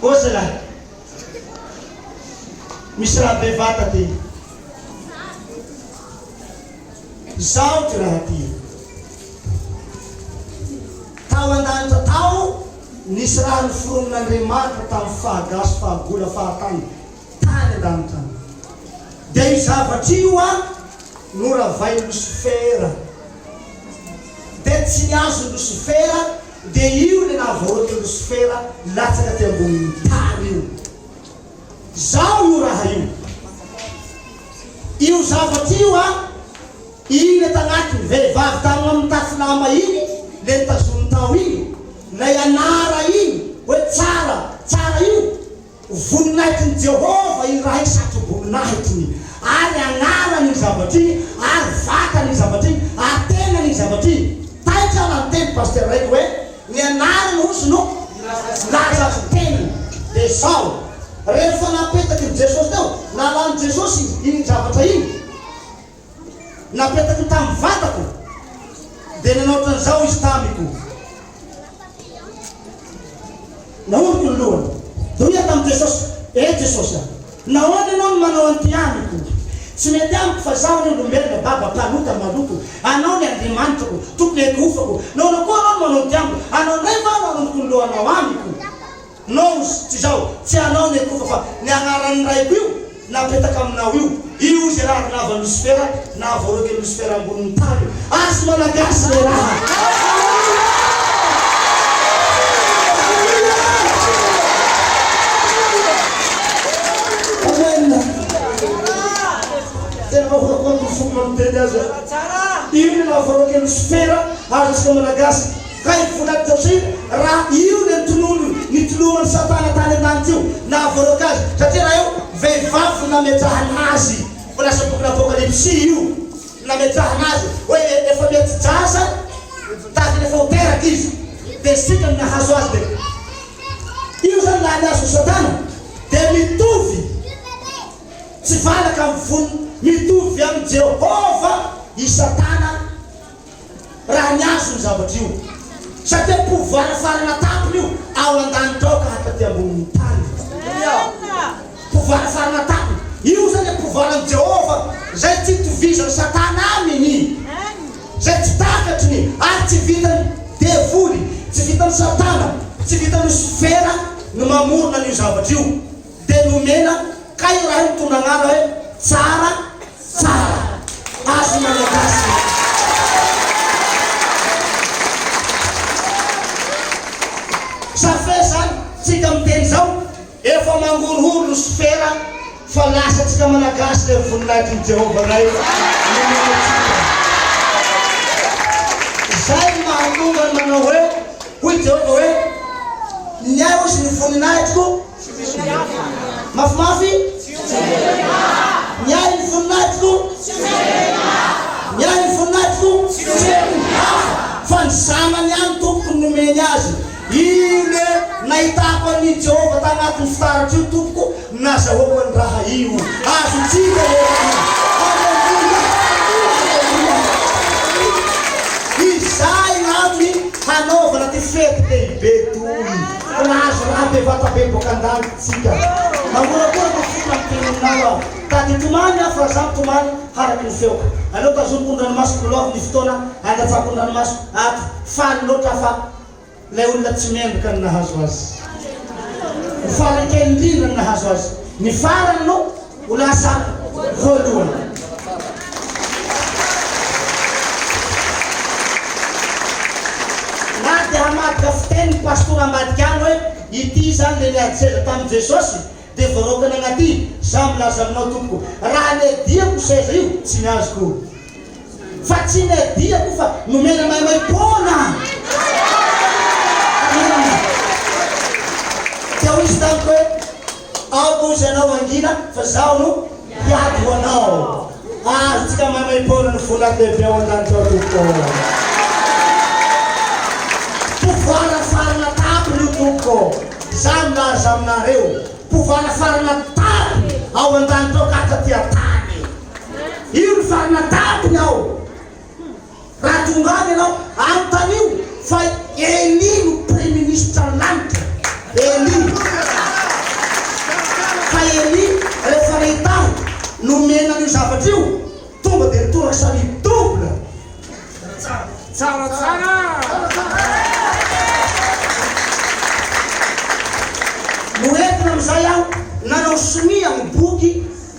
Ô zalahy, misy raha bevata ty, zao ty raha ty, tao an-danitra tao nisy raha noforonin'Andriamanitra tamin'ny fahagasy, fahagola, fahatany tany an-danitra any, dia io zavatra io an, noravain'i Losifera, dia tsy ny azon'i Losifera Dia io ilay nahavaoaka i Losifera latsaka aty ambonin'ny tany io. Zao io raha io. Io zavatra io an, iny ato agnatiny, vehivavy tagnona mitafy lamba iny, le nitazominy tao iny, lay anara iny, hoe tsara, tsara io. Ho voninahitin'i Jehovah iray satroboninahitiny, ary anarany iny zavatra iny, ary vatany iny zavatra iny, ary tenany iny zavatra iny. Taitra raha niteny pasitera raiky hoe, Ny anarany hozy no nilaza ny tenany. Dia izao, rehefa napetaky ny Jesosy teo, nalan'i Jesosy iny zavatra iny. napetako tamin'ny vatako, dia nanao ohatran'izao izy tamiko. Nahoriko ny lohany. Hoy aho tamin'i Jesosy, Ee Jesosy a, nahoana Ianao no manao an'ity amiko? Tsy mety amiko fa izaho anie olombelona baba, mpanota, maloto. Anao ny Andriamanitrako, Tompon'ny ekihofako. Nahoana koa Anao no manao an'ity amiko? Anao indray va no aroniko ny lohanao amiko? Nous, tsy izao, tsy ianao ny Ekofa fa ny agnaran'ny Raiko io napetaka aminao io, io ze raha avy nahavan'i Losifera, nahavoaroaky an'i Losifera ambonin'ny tany io. Azy Malagasy le raha. Amen! Tena mahafaly ny foko mahay miteny azy e! Io le nahavoaroaky an'i Losifera, ary antsika Malagasy, Kay vola Josefa raha io le tonony nitoloman'i satana tany an-tany teo nahavoaroaka azy satria raha io vehivavy nametrahana azy vao lasa bokin'ny apokalypsy io nametrahana azy hoe efa miati-jaza tahaka ny efa ho teraka izy dia isika no nahazo azy dia io zany laha ny azo satana dia mitovy tsy valaka amin'ny voniny mitovy amin'i Jehovah i satana Raha ny azy io zavatra io. Satria pouvoir farana tampony io ao andanitra ao ka hataty ambonin'ny tany. Pouvoir farana tampony. Io zany le pouvoir an'i Jehovah izay tsy itovizan'i Satana aminy, izay tsy takatry ny ary tsy vitan'ny devoly, tsy vitan'i Satana, tsy vitan'i Losifera ny mamorona an'io zavatra io. Dia nomena, kay raha io mitondra anarana hoe tsara, Tsara! Azy Malagasy e! Sa fe zany tsika miteny zao efa mangorohoro ry sofera fa lasa tsika Malagasy le voninahitriny Jehovah Ray nomeny antsika. Zay no mahatonga ny manao hoe hoy Jehovah hoe, Ny ahy hozy ny voninahitriko, Tsy mety ahy. Mafimafy? Tsy mety ahy. Miahy ny voninahitiko? Tsy mety ahy. Miahy ny voninahitiko? Tsy mety ahy. Fa ny zanany ihany tompoko no nomeny azy. Io le nahitako an'i Jehovah tagnatin'ny fitaratra io tompoko, nazahoako an'i raha io. Azontsika le Aleloia! Aleloia! Izay no antony hanaovana ty fety lehibe toy. Fa nahazo ra be vata be boka an-danitra isika. Mangorakora ny fo tamin'ny teneninao aho. Tady tomany aho fa zah tomany haraky ny feoko. Aleo tazomiko ny ranomasoko Miloavy ny fotoana handatsako ny ranomasoko Ato faly loatra aho fa Ilay olona tsy mendrika no nahazo azy Ho faly kely indrindra no nahazo azy Ny farany no Ho lasa voalohany. Na dia hamadika fiteny ny pastora ambadika any hoe ity izany dia niady seza tamin'i Jesosy dia voaraokany agnaty, za milaza aminao tompoko, raha niadiako seza io tsy ny azoko. Fa tsy ny adiako fa nomena maimaim-poana Amena Dia hoy izy tamiko hoe Aoka hozy anao hangina fa zaho no hiady ho anao Azontsika maimaim-poana ny voninahitra lehibe ao an-danitra ao Tompoko ô Pouvoir farana tapony io Tompoko ô Za milaza aminareo pouvoir farana tapony ao an-danitra ao ka taty an-tany Io ny farana tampony ao. Raha tonga any ianao, anontanio fa i Elie no praiministran'ny lanitra. Elie. Fa Elie rehefa nahita ahy nomena an'io zavatra io, tonga dia nitoraka samy double. Tsara tsara. Noentina amin'izay aho nanao sonia ny boky.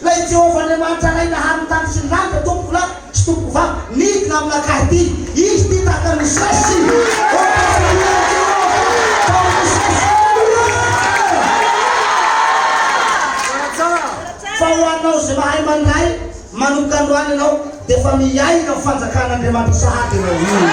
Ilay Jehovah Andriamanitra Ray naharin'ny tany sy ny lanitra, Tompoko lahy sy Tompoko vavy, nidina aminakahy ity. Izy ity tahaka ny Mosesy. Ô, tafavory amin'i Jehovah, tahaka ny Mosesy. Aleloia! Fa ho anao izay mahay mandray, manomboka androany ianao dia efa miaina ny fanjakan'Andriamanitra sahady ianao.